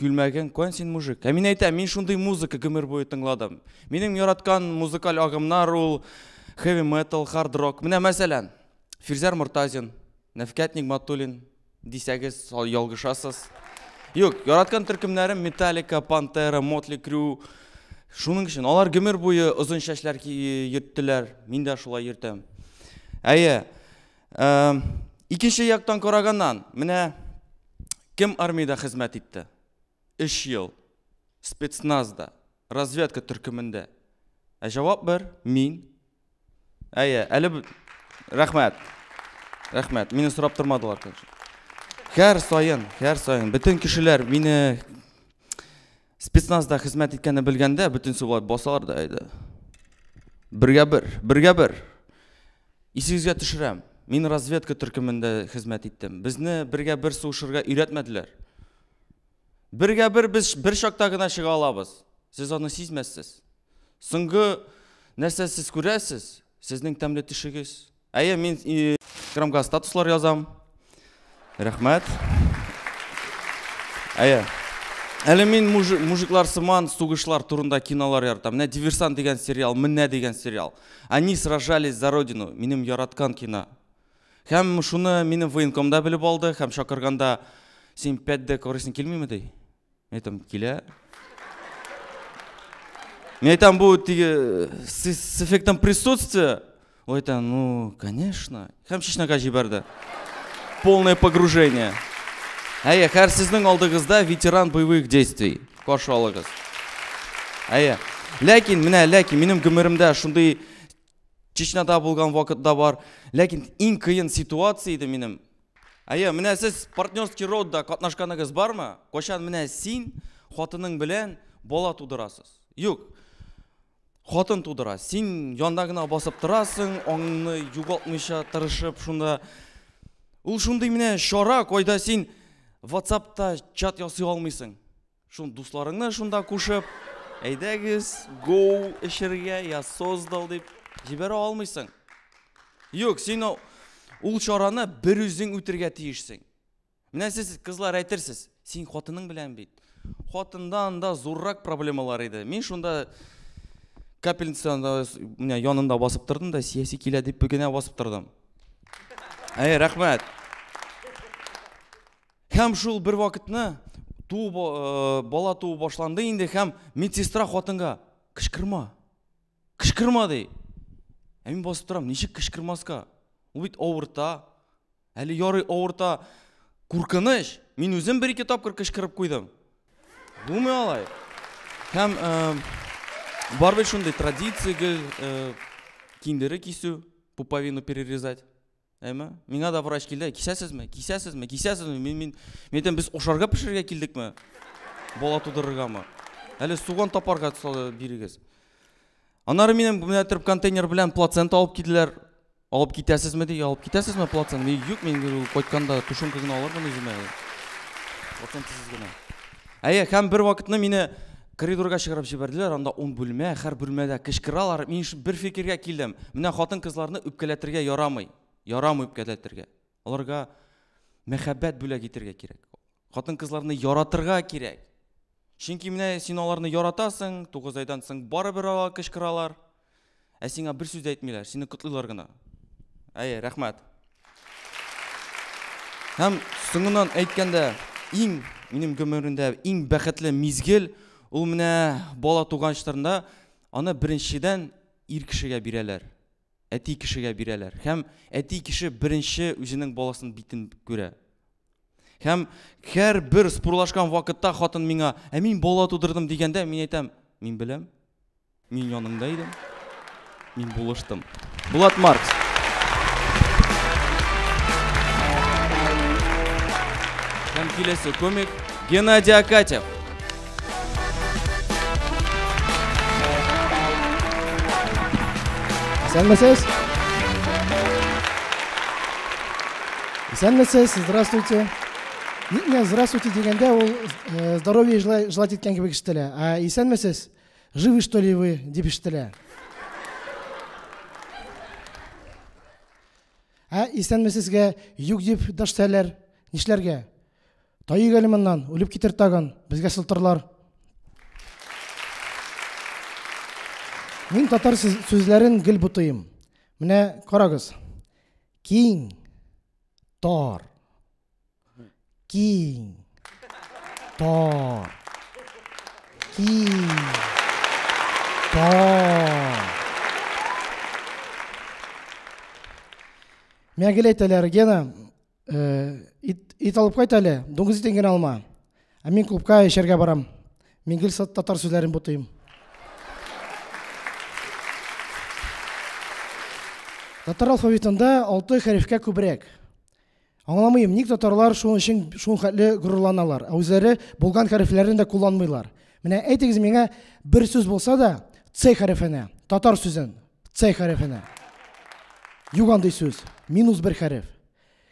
Күлмәгең кан син мужик. Ә мин әйтәм, мин шундый музыка гомер буе тыңладым. Минем яраткан музыкаль агымнар ул heavy metal, hard rock. Менә мәсәлән, Фирзәр Мортазин, Нәфкәт Нигматуллин дисәгез, ялгышасыз. Юк, яраткан төркемнәрем Metallica, Pantera, Motley Crue. Шуның өчен алар гомер буе озын чәчләр йөрттеләр. Мин дә шулай йөртәм. Әйе, Ә, икенче яктан караганнан, менә кем армиядә хезмәт итте? 3 ел спецназда, разведка төркемендә. Ә җавап бер, мин. Әйе, әле рәхмәт. Рәхмәт. Мине сорап тормадылар, конечно. Һәр саен, һәр саен бөтен кешеләр мине Спецназда хезмәт иткәнне белгәндә, бөтенесе болай басалар да иде. Бергә бер, бергә бер. Исегезгә төшерәм, мин разведка төркемендә хезмәт иттем. Безне бергә бер сугышырга өйрәтмәделәр. Бергә бер без бер чакта гына чыга алабыз. Сез аны сизмәссез. Соңгы нәрсә сез күрәсез? Сезнең тәмле тишегез. Әйе, мин инстаграмга статуслар язам. Рәхмәт. Әйе. Әле мин мужиклар сыман сугышлар турында кинолар яратам. Менә Диверсант дигән сериал, Менә дигән сериал. Они сражались за родину. Минем яраткан кино. Һәм шуны минем военкомда белеп алды, һәм чакырганда син пәт дә күрәсең килмиме ди. Мин әйтәм, килә. Мин әйтәм, бу теге с эффектом присутствия. Ул әйтә, ну, конечно. Һәм Чечняга җибәрде. Полное погружение. Әйе, хәр сезнең алдыгызда ветеран боевых действий. Каршы алыгыз. Әйе. Ләкин, менә, ләкин, минем гомеремдә шундый Чечняда булган вакытта бар. Ләкин иң кыен ситуация иде минем. Әйе, менә сез партнерский родда катнашканыгыз бармы? Качан менә син хатының белән бала тудырасыз? Юк. Хатын тудыра. Син янда гына басып торасың, аңны югалтмыйча тырышып шунда. Ул шундый менә чара, кайда син WhatsApp-та чат ясый алмыйсың. Шун дусларыңны шунда кушып, әйдәгез, гоу эчергә, я создал дип җибәрә алмыйсың. Юк, син ул чараны бер үзең үтергә тиешсең. Менә сез кызлар әйтерсез, син хатының белән бит. Хатында анда зуррак проблемалар иде. Мин шунда капельницаны менә янында басып тордым да, сияси килә дип генә басып тордым. Әй, рәхмәт. Һәм шул бер вакытны туу э, бала туу башланды инде һәм медсестра хатынга кычкырма. Кычкырма ди. Ә мин басып торам, ничек кычкырмаска? Ул бит авырта. Әле ярый авырта. Куркыныч. Мин үзем бер ике тапкыр кычкырып куйдым. Булмый алай. Һәм э, бар бит шундый традиция гел э, киндеры кисү, пуповину перерезать. Әйме? Миңа да врач килде. Кисәсезме? Кисәсезме? Кисәсезме? Мин мин мен без ошарга пешерергә килдекме? Бала тудырыргамы? Әле суган тапарга бирегез. Аннары минем менә торып контейнер белән плацента алып киделәр. Алып китәсезме ди? Алып китәсезме плацент? Мин юк, мин кайтканда тушым кызын алырмын үземә. Плацент сез генә. Әйе, һәм бер вакытны мине Коридорга чыгарып җибәрделәр, анда ун бүлмә, һәр бүлмәдә кычкыралар. Мин шул бер фикергә килдем. Менә хатын-кызларны үпкәләтергә ярамый. Ярамый үпкәләтергә. Аларга мәхәббәт бүләк итәргә кирәк. Хатын-кызларны яратырга кирәк. Чөнки менә син аларны яратасың, тугыз айдан соң барыбер алар кычкыралар. Ә сиңа бер сүз әйтмиләр, сине котлыйлар гына. Әйе, рәхмәт. Һәм соңыннан әйткәндә, иң минем гомеремдә иң бәхетле мизгел ул менә бала туган чорында аны беренчедән ир кешегә бирәләр. Әти кешегә бирәләр. Һәм әти кеше беренче үзенең баласын битен күрә. Һәм һәр бер спурлашкан вакытта хатын миңа, "Ә мин бала тудырдым" дигәндә, мин әйтәм, "Мин беләм. Мин яныңда идем. Мин булыштым. Булат Маркс. Һәм киләсе комик Геннадий Акатьев. Исәнмесез. Исәнмесез, здравствуйте. Ниңә здравствуйте дигәндә ул э, здоровье желать иткән кебек ишетелә. А исәнмесез, Живы что ли вы? дип ишетелә. Ә исәнме сезгә юк дип дәштәләр. Нишләргә? Тайык әле моннан, үлеп китер тагын, безгә сылтырлар. Мин татар сүзләрен гел бутыйм. Менә карагыз. Киң, тар, киң тар киң тар миңа гел әйтәләр гена ит, ит алып кайт әле дуңгыз итен генә алма ә мин клубка эчәргә барам мин гел татар сүзләрен бутыйм татар алфавитында алты хәрефкә күбрәк Аңламыйм, ник татарлар шуның өчен шул хәтле горурланалар, ә үзләре булган хәрефләрен дә кулланмыйлар. Менә әйтегез миңа бер сүз булса да Ц хәрефенә, татар сүзен Ц хәрефенә. Юк андый сүз, минус бер хәреф.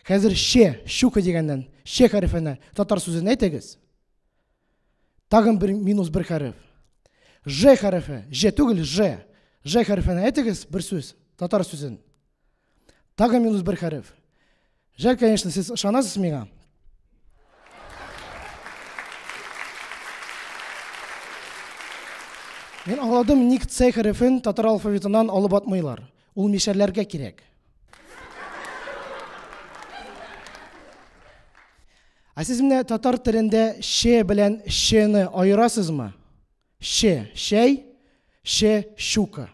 Хәзер Ш, щука дигәннән, Ш хәрефенә татар сүзен әйтегез. Тагын бер минус бер хәреф. Ж хәрефе, Ж түгел, Ж. Ж хәрефенә әйтегез бер сүз, татар сүзен. Тагы минус бер хәреф. Жаль, конечно, сез ышанасыз миңа. Мин аңладым, ник Ц хәрефен татар алфавитынан алып атмыйлар. Ул мишәрләргә кирәк. Ә сез менә татар телендә ше белән шены аерасызмы? Ше, шәй, ше, щука.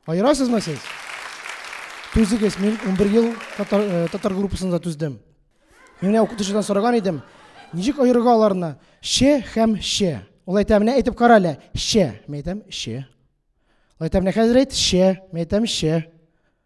Аерасызмы сез? Түзегез, мин унбер ел татар, э, татар группасында түздем. Мин менә укытучыдан сораган идем, ничек аерырга аларны? Ще һәм ще. Ул әйтә, менә әйтеп кара әле. Ще. Мин әйтәм, ще. Ул әйтә, менә хәзер әйт, ще. Мин әйтәм, ще.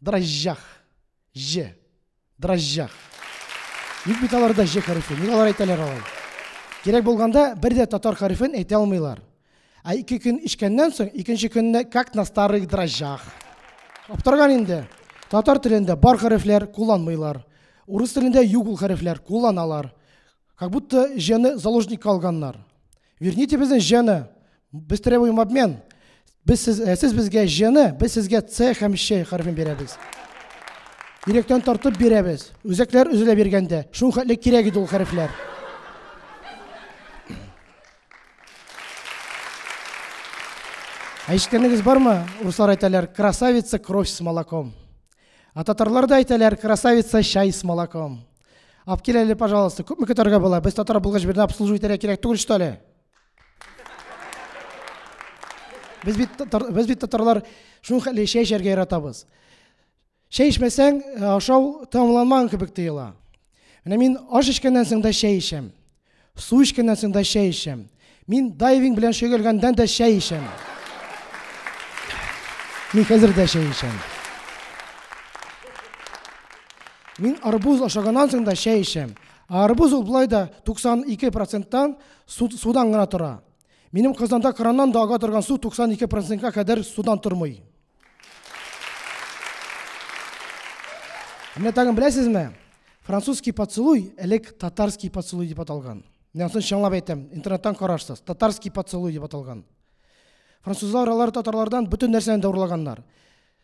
Дрожжах. Ж. Дрожжах. Ник бит аларда ж хәрефе? Ник алар әйтәләр алай? Кирәк булганда бер дә татар хәрефен әйтә алмыйлар. Ә ике көн эчкәннән соң, икенче көнне как на старых дрожжах. Аптырган инде. Татар телендә бар хәрефләр кулланмыйлар. Урыс телендә юк ул хәрефләр, кулланалар. Как будто җены заложникка алганнар. Верните безне җыны. Без требуем обмен. Без сез, э, сез безгә җыны, без сезгә С һәм Щ хәрефен бирәбез. Йөрәктән тартып бирәбез. Үзәкләр өзелә биргәндә, шул хәтле кирәк иде ул хәрефләр. Әйткәнегез бармы? Руслар әйтәләр, красавица кровь с молоком. А татарлар да әйтәләр, красавица чай с молоком. Алып кил әле, пожалуйста. Күпме көтәргә була? Без татар булгач бердә обслуживать итәргә кирәк түгел что ли? Без бит татар, без бит татарлар шул хәлле чәй эчәргә яратабыз. Чәй эчмәсәң, э, ашау тәмамланмаган кебек тоела. Менә мин аш эчкәннән соң да чәй эчәм. Су эчкәннән соң да чәй эчәм. Мин дайвинг белән шөгыльгәндән дә чәй эчәм. Мин хәзер дә чәй эчәм. Мин арбуз ашаганнан соң да чәй эчәм. Арбуз ул болай да 92 проценттан судан гына тора. Минем Казанда краннан да ага торган су 92 процентка кадәр судан тормый. Менә тагын беләсезме? Французский поцелуй элек татарский поцелуй дип аталган. Менә соң чаңлап әйтәм, интернеттан карарсыз. Татарский поцелуй дип аталган. Французлар алар татарлардан бөтен нәрсәне дә урлаганнар.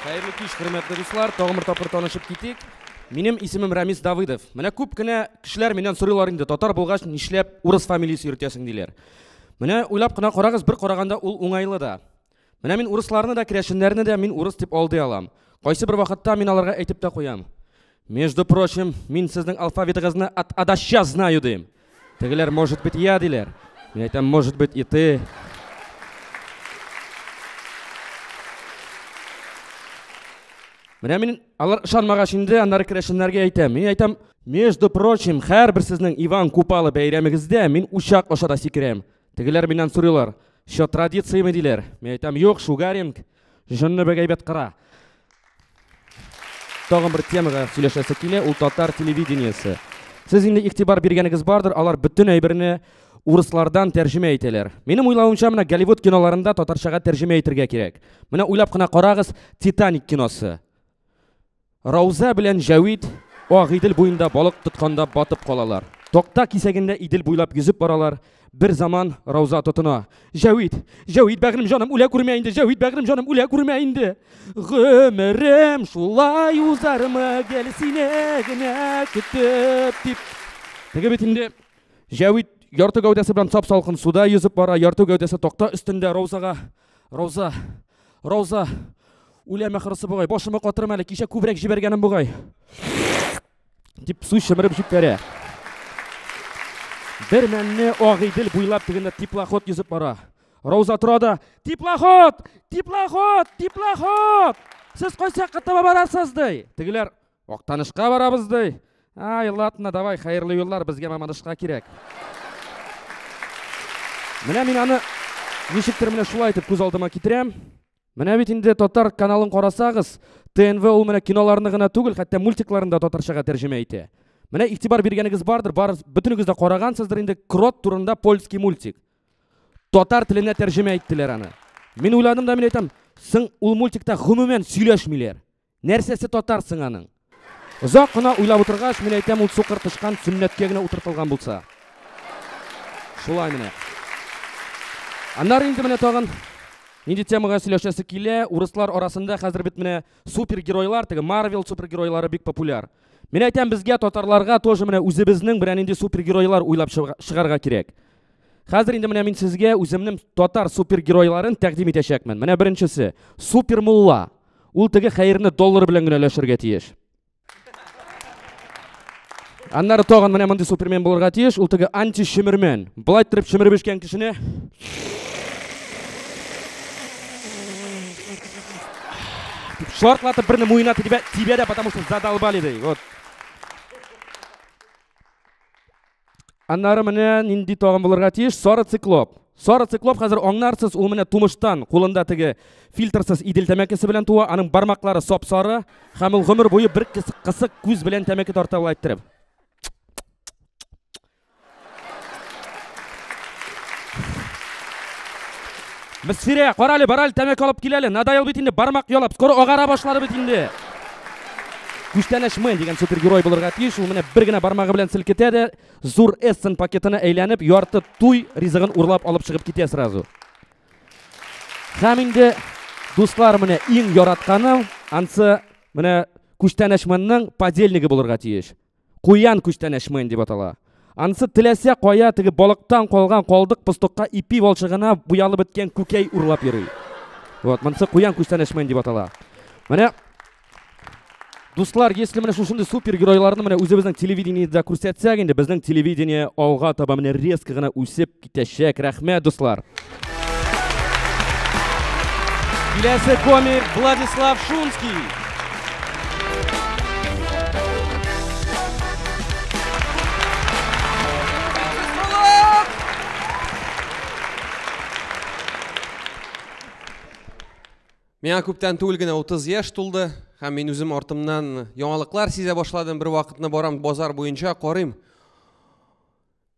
Хәерле кич, хөрмәтле дуслар. Тагын бер тапкыр танышып китик. Минем исемем Рамис Давыдов. Менә күп кенә кешеләр миннән сорыйлар инде, татар булгач, нишләп урыс фамилиясе йөртәсең диләр. Менә уйлап кына карагыз, бер караганда ул уңайлы да. Менә мин урысларны да, керәшеннәрне дә мин урыс дип алдый алам. Кайсы бер вакытта мин аларга әйтеп тә куям. Между прочим, мин сезнең алфавитыгызны от а до ща знаю дим. Тегеләр, может быть, я диләр. Мин әйтәм, может быть, и ты. Менә мин алар ышанмагач инде аннары керәшеннәргә әйтәм. Мин әйтәм, между прочим, һәрбер сезнең Иван Купалы бәйрәмегездә мин учак аша да сикерәм. Тегеләр миннән сорыйлар, що традицияме диләр. Мин әйтәм, юк, шугаринг, җонны бик әйбәт кыра. Тагын бер темага сөйләшәсе килә, ул татар телевидениесе. Сез инде игътибар биргәнегез бардыр, алар бөтен әйберне урыслардан тәрҗемә итәләр. Минем уйлавымча, менә Голливуд киноларында татарчага тәрҗемә итергә кирәк. Менә уйлап кына карагыз, Титаник киносы. Рауза белән Җәвит Ак Идел буенда балык тотканда батып калалар. Токта кисәгендә Идел буйлап йөзеп баралар. Бер заман Рауза тотына. Җәвит, Җәвит бәгърем җаным үлә күрмә инде, Җәвит бәгърем җаным үлә күрмә инде. Гомерем шулай узармы гел сине генә көтеп дип. Теге бит инде Җәвит ярты гәүдәсе белән сап-салкын суда йөзеп бара, ярты гәүдәсе токта өстендә Раузага. Рауза, Рауза, үләм ахырысы бугай, башымы катырым әле, кичә күбрәк җибәргәнем бугай. Дип су чымырып җибәрә. Бер мәлне Агыйдел буйлап тегендә теплоход йөзеп бара. Рауза тора да, теплоход, теплоход, теплоход! Сез кайсы якка таба барасыз, ди. Тегеләр, Актанышка барабыз ди. Ай, ладно, давай, хәерле юллар, безгә Мамадышка кирәк. Менә мин аны ничектер менә шулай итеп күз алдыма китерәм. Менә бит инде татар каналын карасагыз, ТНВ ул менә киноларны гына түгел, хәтта мультикларын да татарчага тәрҗемә итә. Менә игътибар биргәнегез бардыр, бар бөтенегез дә карагансыздыр инде Крот турында польский мультик. Татар теленә тәрҗемә иттеләр аны. Мин уйладым да мин әйтәм, соң ул мультикта гомумән сөйләшмиләр. Нәрсәсе татар соң аның? Озак кына уйлап утыргач, мин әйтәм, ул сукыр тычкан сөннәткә генә утыртылган булса. Шулай менә. Аннары инде менә тагын нинди темага сөйләшәсе килә, урыслар арасында хәзер бит менә супергеройлар, теге Марвел супергеройлары бик популяр. Мин әйтәм, безгә татарларга тоже менә үзебезнең берәр нинди супергеройлар уйлап чыгарга кирәк. Хәзер инде менә мин сезгә үземнең татар супергеройларын тәкъдим итәчәкмен. Менә беренчесе, супермулла. Ул теге хәерне доллар белән генә өләшергә тиеш. Аннары тагын менә мондый супермен булырга тиеш, ул теге антишимермен. Былай торып шимереп эчкән кешене шартлатып берне муена тибә, тибә дә, потому что задолбали ди. Вот. Аннары менә нинди тагын булырга тиеш? Сары циклоп. Сары циклоп хәзер аңнарсыз, ул менә тумыштан кулында теге фильтрсыз идел тәмәкесе белән туа, аның бармаклары сап-сары һәм ул гомер буе бер кысык күз белән тәмәке тарта ул әйттереп. Мсирә, карале, барале, тәмәке алып киләле. Надоел бит инде, бармак ялап, скоро агара башлады бит инде. Күчтәнәч мэн дигән супергерой булырга тиеш. Ул менә бер генә бармагы белән селкетә дә, зур эссен пакетына әйләнеп, ярты туй ризыгын урлап алып чыгып китә сразу. Һәм инде дуслар менә иң яратканым, ансы менә күчтәнәч мэнның подельнигы булырга тиеш. Куян күчтәнәч мыен дип атала. Анысы теләсә кая теге балыктан калган калдык постокка ипи валчыгына буялып беткән күкәй урлап йөри. Вот, монысы куян күчтәнәч мыен дип атала. Менә Дуслар, если менә шушындый супергеройларны менә үзебезнең телевидениедә күрсәтсәк инде, безнең телевидение алга таба менә резко гына үсеп, Китәчәк, рәхмәт, дуслар! Киләсе комик Владислав Шунский. Миңа күптән түгел генә 30 яшь тулды һәм мин үзем артымнан яңалыклар сизә башладым. Бер вакытны барам базар буенча карыйм.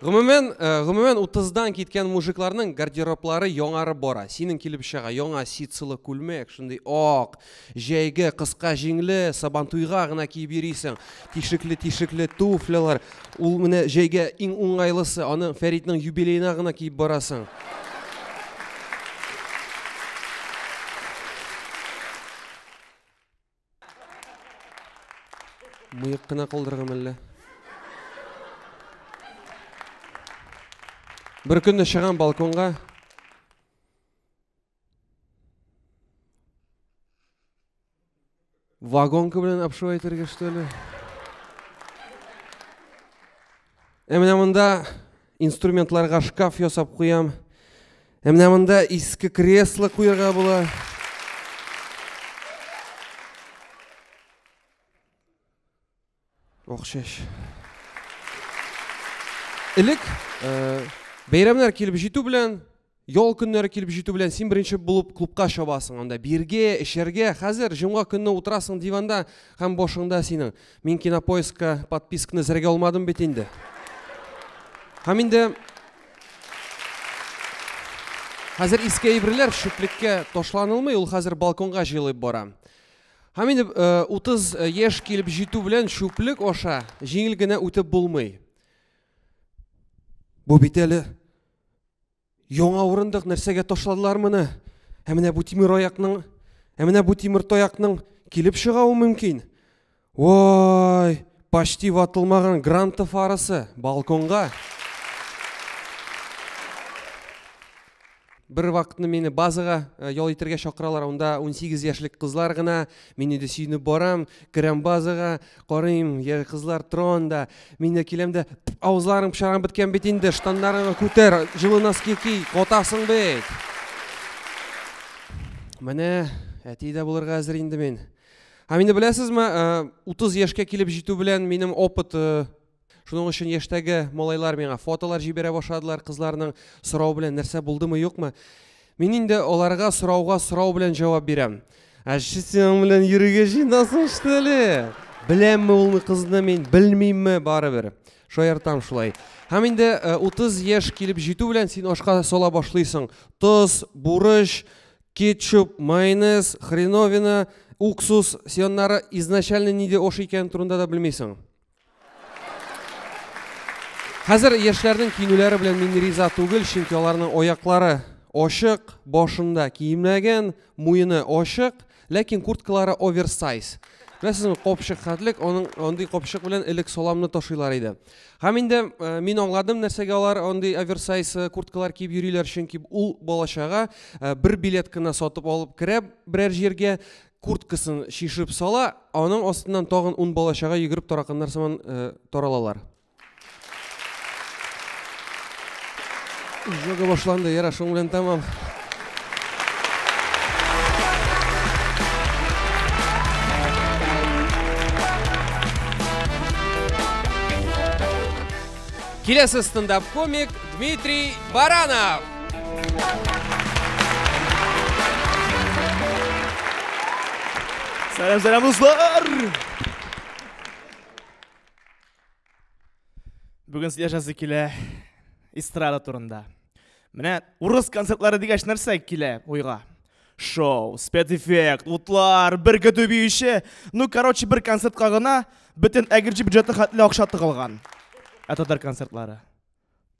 Гомумән, э, гомумән 30-дан киткән мужикларның гардероблары яңарып бара. Синең килеп чыга яңа ситсылы күлмәк, шундый ак, җәйге, кыска җиңле, сабантуйга гына киеп йөрисең. Тишекле, тишекле туфлялар. Ул менә җәйгә иң уңайлысы, аны Фәритнең юбилеена гына киеп барасың. Мыек кына калдырырга мәллә. Бер көнне чыгам балконга. Вагонка белән обшивать итәргә, что ли? Ә менә монда инструментларга шкаф ясап куям. Ә менә монда иске кресло куярга була. Охшаш. Элек э, бәйрәмнәр килеп җитү белән Ял көннәре килеп җитү белән син беренче булып клубка чабасың, анда бирге, эчәргә. Хәзер җомга көнне утырасың диванда һәм башыңда синең. Мин кинопоискка подписканы зәргә алмадым бит инде. Һәм инде Хәзер иске әйберләр шүплеккә ташланылмый, ул хәзер балконга җыелып бара. Һәм инде 30 э, э, яшь килеп җитү белән шүплек аша җиңел генә үтеп булмый. Бу бит әле Яңа урындык нәрсәгә ташладылар моны? Ә менә бу тимер аякның, ә менә бу тимер таякның килеп чыгавы мөмкин. Ой, почти ватылмаган гранта фарасы балконга. Бер вакытны мине базага э, ял итәргә чакыралар. Анда 18 яшьлек кызлар гына, Мин инде сөенеп барам, керәм базага, карыйм, я кызлар тора анда. Мин дә киләм дә, авызларың пычагың беткән бит инде, штаннарыңны күтәр, җылы носки ки, катасың бит. Менә әти дә булырга әзер инде мин. Һәм инде беләсезме, 30 яшькә килеп җитү белән минем опыт Шуның өчен яшьтәге малайлар миңа фотолар җибәрә башладылар кызларның сорау белән нәрсә булдымы юкмы. Мин инде аларга сорауга сорау белән җавап бирәм. Ә синең белән йөрергә җыенасың что ли? Беләмме ул кызны мин, белмимме барыбер. Шаяртам шулай. Һәм инде 30 яшь килеп җитү белән син ашка сала башлыйсың. Тоз, бурыч, кетчуп, майонез, хреновина, уксус сионнары изначально нидә ош икән турында да белмисең. Хәзер яшьләрнең кинүләре белән мин риза түгел, чөнки аларның аяклары ачык, башында киемнәгән, муены ачык, ләкин курткалары оверсайз. Беләсезме, капчык хәтлек, аның андый капчык белән элек саламны ташыйлар иде. Һәм инде э, мин аңладым, нәрсәгә алар андый оверсайз э, курткалар киеп йөриләр, чөнки ул балачага э, бер билет кына сатып алып керә берәр җиргә, курткасын чишеп сала, аның астыннан тагын ун бала чага йөгереп тараканнар сыман э, таралалар. Жога башланды, яра, шуның белән тәмам. Киләсе стендап-комик Дмитрий Баранов. Сәлам, сәлам, дуслар! Бүген сөйләшәсе килә эстрада турында. Менә урыс концертлары дигәч нәрсә килә уйга? Шоу, спецэффект, утлар, бер көтү биюче. Ну, короче, бер концертка гына бөтен әгерҗе бюджеты хәтле акча тыгылган. Ә татар концертлары.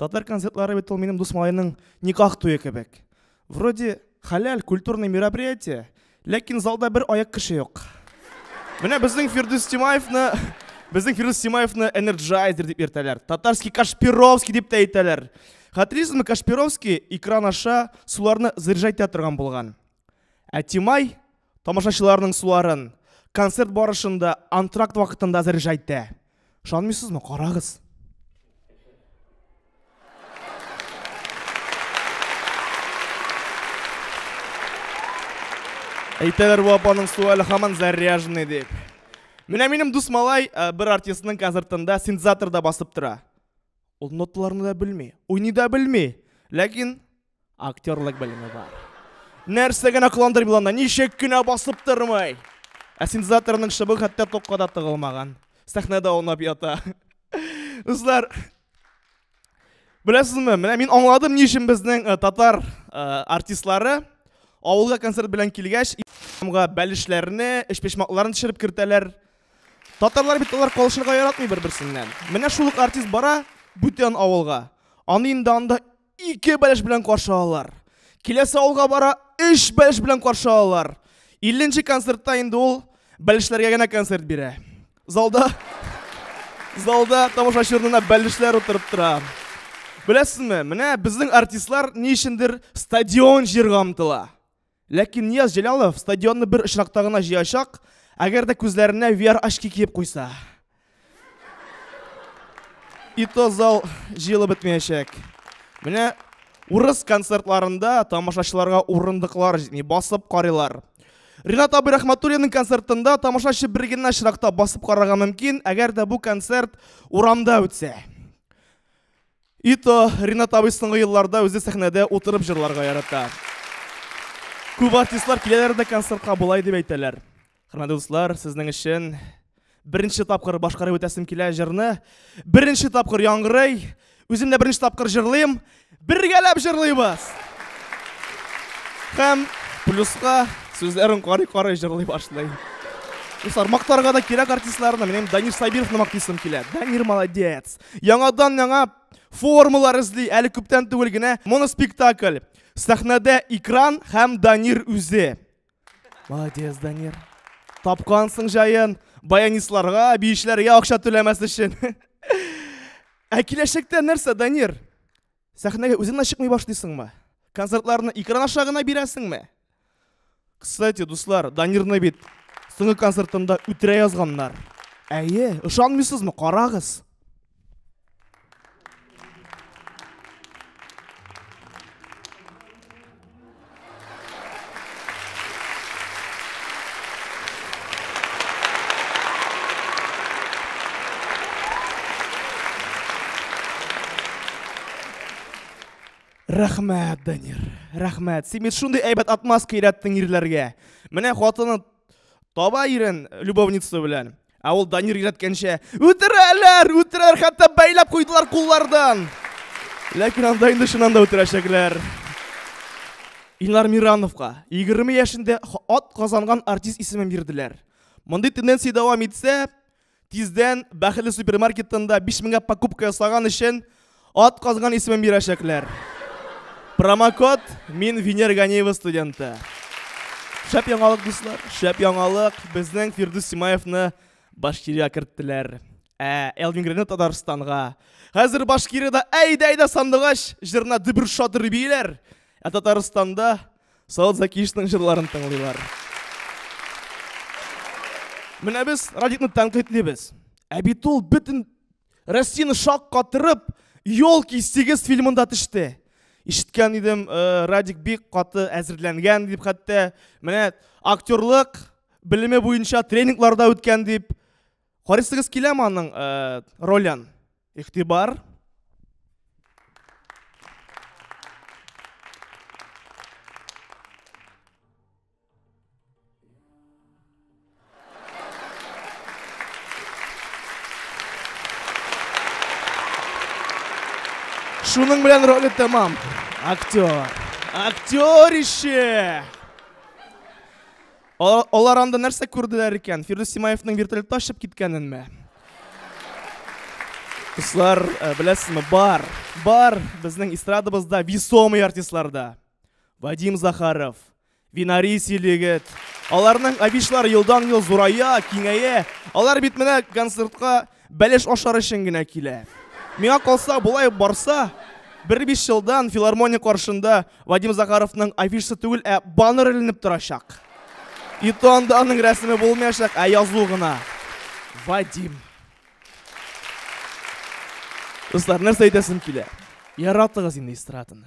Татар концертлары бит ул минем дус малайның никах туе кебек. Вроде халяль культурный мероприятие, ләкин залда бер аяк кеше юк. Менә безнең Фирдүс Тимаевны Безнең Фирдүс Симаевны энерджайзер дип йөртәләр. Татарский Кашпировский дип тә әйтәләр. Хәтерисезме, Кашпировский экран аша суларны заряжайтә торган булган. Ә Тимай Тамашачыларның суларын концерт барышында антракт вакытында заряжайтә. Шанмыйсызмы? Карагыз. Әйтәләр бу апаның суы әле һаман заряженный дип. Менә минем дус малай э, бер артистның концертында синтезаторда басып тора. Ул ноталарны да белми, уйный да белми, ләкин Актерлык белеме бар. Нәрсә генә кыландырмый ул анда, ничек кенә басып тормый. Ә синтезаторның шыбы хәтта токка да тыгылмаган. Сәхнәдә аунап ята. Дуслар, беләсезме, менә мин аңладым, ни өчен безнең э, татар э, артистлары авылга концерт белән килгәч, га бәлешләрне, эчпечмакларын төшереп кертәләр. Татарлар бит алар калышырга яратмый бер-берсеннән. Менә шул ук артист бара бүтән авылга. Аны инде анда Ике бәлеш белән каршы алалар. Киләсе авылга бара, өч бәлеш белән каршы алалар. Илленче концертта инде ул бәлешләргә генә концерт бирә. Залда залда тамашачы урынына бәлешләр утырып тора. Беләсезме, менә безнең артистлар ни өчендер стадион җырга омтыла. Ләкин Нияз Җәлалов стадионны бер очракта гына җыячак, әгәр дә күзләренә VR очки киеп куйса. И то зал җыелып бетмәячәк. Менә урыс концертларында тамашачыларга урындыклар җитми, басып карыйлар. Ринат абый Рахматуллинның концертында тамашачы бер генә очракта басып карарга мөмкин, әгәр дә бу концерт урамда үтсә. Ито Ринат абый соңгы елларда үзе сәхнәдә утырып җырларга ярата. Күп артистлар киләләр дә концертка болай дип әйтәләр. Хөрмәтле дуслар, сезнең өчен беренче тапкыр башкарып үтәсем килә җырны. Беренче тапкыр яңгырый. Үзем дә беренче тапкыр җырлыйм. Бергәләп җырлыйбыз. Һәм плюска сүзләрен карый-карый җырлый башлый. Дуслар, мактарга да кирәк артистларны. Минем Данир Сабировны мактыйсым килә. Данир молодец. Яңадан яңа формалар эзли, әле күптән түгел генә моноспектакль. Сәхнәдә экран һәм Данир үзе. Молодец, Данир. Тапкансың җаен, баянистларга, биешләргә акча түләмәс өчен. Ә киләчәктә нәрсә, Данир? Сәхнәгә үзең дә чыкмый башлыйсыңмы? Концертларны экран аша гына бирәсеңме? Кстати, дуслар, Данирны бит соңгы концертында үтерә язганнар. Әйе, ышанмыйсызмы? Карагыз. Рәхмәт, Данир. Рәхмәт. Син бит шундый әйбәт отмазка өйрәттең ирләргә. Менә хатыны таба ирен любовница белән. Ә ул Данир өйрәткәнчә, үтерәләр, үтерәләр, хәтта бәйләп куйдылар куллардан. Ләкин анда инде чыннан да үтерәчәкләр. Илнар Мирановка 20 яшендә ат казанган артист исемен бирделәр. Мондый тенденция дәвам итсә, тиздән бәхетле супермаркетында 5000 гә покупка ясаган өчен Ат казган исемен бирәчәкләр. Промокод мин Винер Ганиева студенты. Шәп яңалык, дуслар, шәп яңалык. Безнең Фирдүс Симаевны Башкирия керттеләр. Ә Элвин Гренет Татарстанга. Хәзер Башкирияда әйдә әйдә сандугач җырына дөбер шатыр бийләр. Ә Татарстанда Саут Закишның җырларын тыңлыйлар. Менә без Радикны тәнкыйтьлибез. Ә бит ул бөтен Рәсин шак катырып, Йол ки 8 фильмында төште. Ишеткән идем, э, Радик бик каты әзерләнгән дип хәтта. Менә актерлык белеме буенча тренингларда үткән дип. Карыйсыгыз киләме аның э, ролен? Ихтибар. Шуның белән роль тәмам. Актер. Актер ише. Алар анда нәрсә күрделәр икән? Фирдүс Симаевның вертолетта очып киткәненме? Дуслар, э, беләсезме, бар, бар безнең эстрадабызда весомый артистларда. Вадим Захаров, Винари силегет. Аларның авишлар елдан ел зурая, киңәя. Алар бит менә концертка бәлеш ашар өчен генә килә. Миңа калса, болай барса, бер биш елдан филармония каршында Вадим Захаровның афишасы түгел, ә баннер эленеп торачак. И то анда аның рәсеме булмаячак, ә язу гына. Вадим. Дуслар, нәрсә әйтәсем килә? Яратыгыз инде эстраданы.